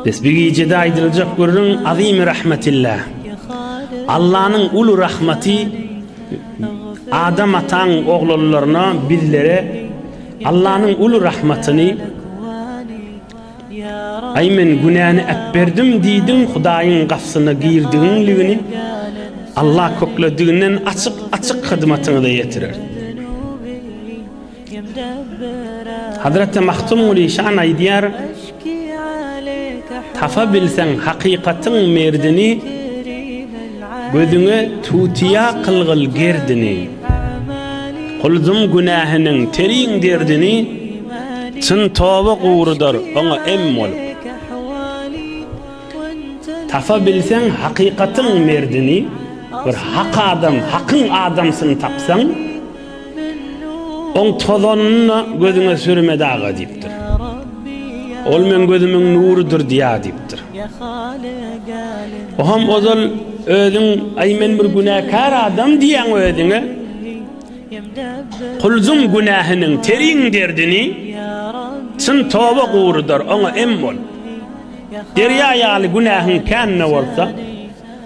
Biz bu gijede aýdyljak gürrüň Azimi rahmetillah. Allanyň uly rahmaty Adam ataň oglanlaryna bizlere Allanyň uly rahmatyny Aý men günäni äpberdim diýdiň Hudaýyň gafsyna girdigiňligini Allah köklediginden açyk açyk hyzmatyňyza ýetirer. Hazreti Mahtum Gulişan aýdýar, Tapa bilseň hakykatyň merdini, Gözüňe tutýa kylgyl gerdini. Kuldum günähiniň teriň derdini, Çyn toba gurudar oňa em bolup. Tapa bilseň hakykatyň merdini, Bir hak adam, hakyň adamsyny tapsaň, Oň tozanyny-da gözüňe sürme daga diýipdir. Ol meň gözümiň nurydyr diýýär diýipdir. Oňam ozal özüň, Aý men bir günäkär adam diýýäň özüňe. Kulzuň günähiniň teriň derdini çyn toba gurudar, oňa em bol. Derýa ýaly günähiň kän-de bolsa.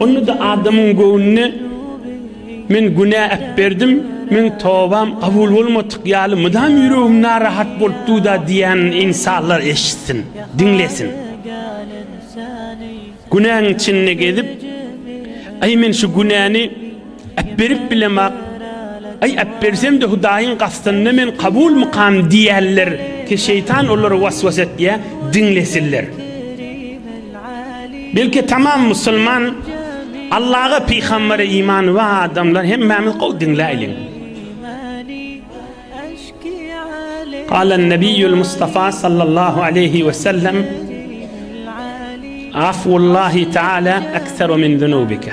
Onda-da adamyň göwnüne Men günä äpberdim, meň tobam kabul bolmadyk ýaly mydam ýüregim narahat bolup dur-da diýýänini ynsanlar eşitsin, diňlesin. Günäň içinde gezip, Aý, men şu günäni Äpberip bilemok. Aý, äpbersem-de Hudaýyň gastynda men kabulmykam diýerler. Ki şeýtan olara was-was etýär, diňlesinler. Belki tamam musulman, Allaha, pygambere imany bar adamlar hemmämiz gowy diňläýliň. Galan Nebiýül Mustafa sallallahu aleýhi we sellem, Afwullahi taala ekseru min zunubika.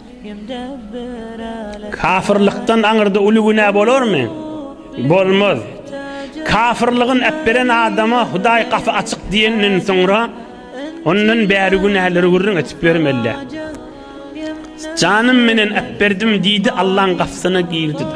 Kafyrlykdan aňyrda uly günä bolarmy? Bolmaz. Kafyrlygyny äpberen adama Hudaý gapy açyk diýenden soňra, ondan bäri günäleri gürrüň edip ýörmeli-dä. Janym menen äpberdim diýdi, Allaň gapysyna girdi-de.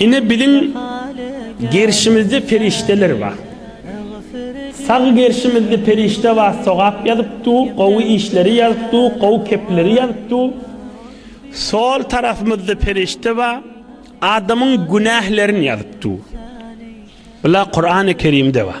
Ine biziň gerşimizde perişdeler bar. Sag gerşimizde perişde bar sogap ýazyp dur, gowy işleri ýazyp dur, gowy kepleri ýazyp dur. Sol tarapymyzda perişde bar, adamyň günählerini ýazyp dur. Bular Kurany Kerimde bar.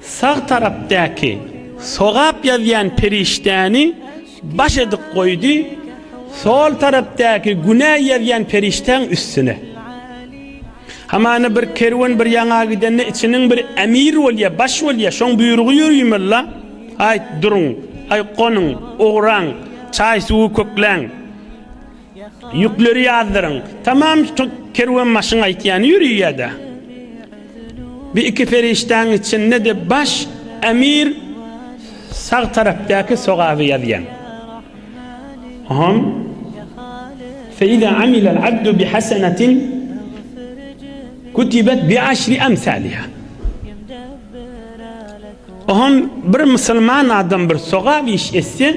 Sag tarapdaky sogap ýazýan perişdäni baş edip goýdy, sol tarapdaky günä ýazýan perişdäň üstüne. Hamana bir kerwen bir ýaňa gidende içiniň bir emir bolýa, baş bolýa, şoň buýrugy ýörüýmella, Aýt, duruň, aý, gonuň, ugraň, çaý-suwy kökläň. Ýükleri ýazdyryň. Tamam kerwenbaşyň aýtýany ýöri ýa-da bi iki perişdäň içinde-de baş emir sag tarapdaky sogaby ýazýaň. Hom. Feýza amilal abdu bi hasenetin kutibet bi aşri amsaliha. Hom bir musulman adam bir sogap iş etse,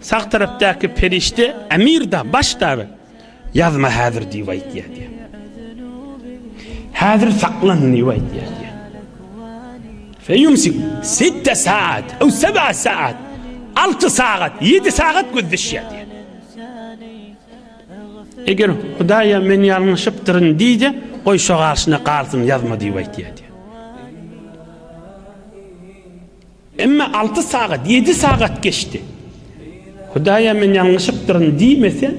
Sag tarapdaky perişde Emir-da, baş dagy, Ýazma häzir diýip aýtýar diýýär. Häzir saklan diýip aýtýar diýýär. Feýumsik sitte saat, ew seb'a saat, alty sagat, ýedi sagat göz düşýär diýýär. Eger Hudaýa men ýalňyşypdyryn diýse, goý şo garşyna galsyn, ýazma diýip aýtýar diýýär. Emma alty sagat, ýedi sagat geçdi. Hudaýa men ýalňyşypdyryn diýmese,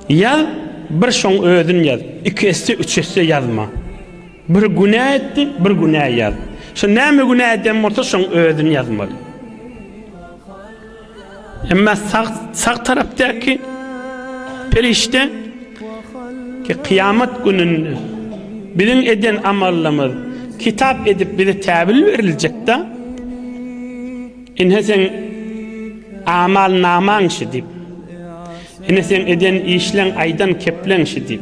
ýaz, bir şoň özün ýaz. Iki esse, üç esse ýazma. Bir günä etdi, bir günä ýaz. Şo näme günä eden bolsa, şoň özün ýazmaly. Emma sag sag tarapdaky perişde ki kıyamet gününde biziň eden amallymyz kitap edip bize täbil beriljek da inhe sen amal naman şu dip inhe sen eden işlen aydan keplen şu dip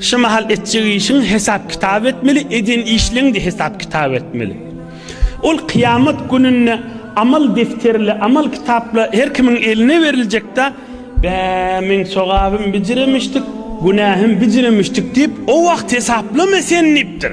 Şu mahal etjek işiň hesap kitap etmeli, eden işleň-de hesap kitap etmeli. Ol kyýamat gününde amal defterle, amal kitapla her kimiň eline beriljek-de, Bä, meň sogabym bijiremişdik, günähim bijiremişdik diýip, o wagt hesaplama sen diýipdir.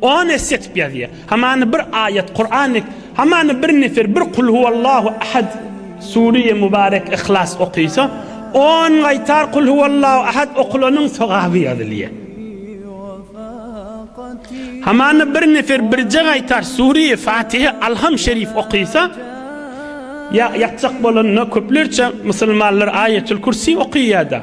On esse etip ýazýar. Hamany bir aýat, Kuran, hamany bir nefer, bir kul huwallahu ahad, Suriýe Mubarek Ihlas okysa, on gaýtar kul huwallahu ahad okulanyň sogaby ýazylýar. Hamany bir nefer birje gaýtar Suriýe Fatihe Alham Şerif okysa, ýa ýatjak bolanda köplerçe musulmanlar Aýetul Kürsi okyýada.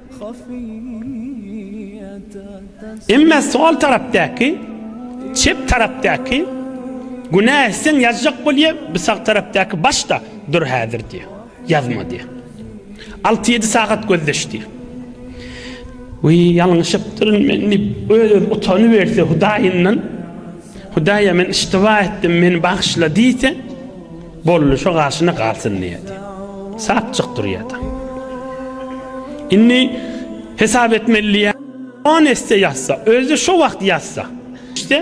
Emma sol tarapdaky, çep tarapdaky, günä etseň ýazjak bolýa, bu sag tarapdaky başda dur häzir diýýär. Ýazma diýýär. Alty-ýedi sagat gözleş diýýär. Wiý, ýalňyşypdyryn men diýip, öz-özüne utanyberse Hudaýyndan, Hudaý-a men yştyba etdim, meni bagyşla diýse, Boldy şo garşyna galsyn diýýärdi. Sapjyk durýardy. Indi hesap etmeli diýýär. On esse ýatsa, özi şo wagt ýatsa. Iste,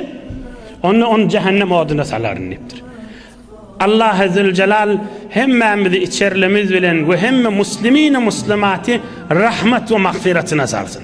onda ony jähennem oduna salaryn diýipdir. Allahy Züljelal hemmämizi içerlimiz bilen we hemme muslimini muslimaty rahmat we magfyratyna salsyn.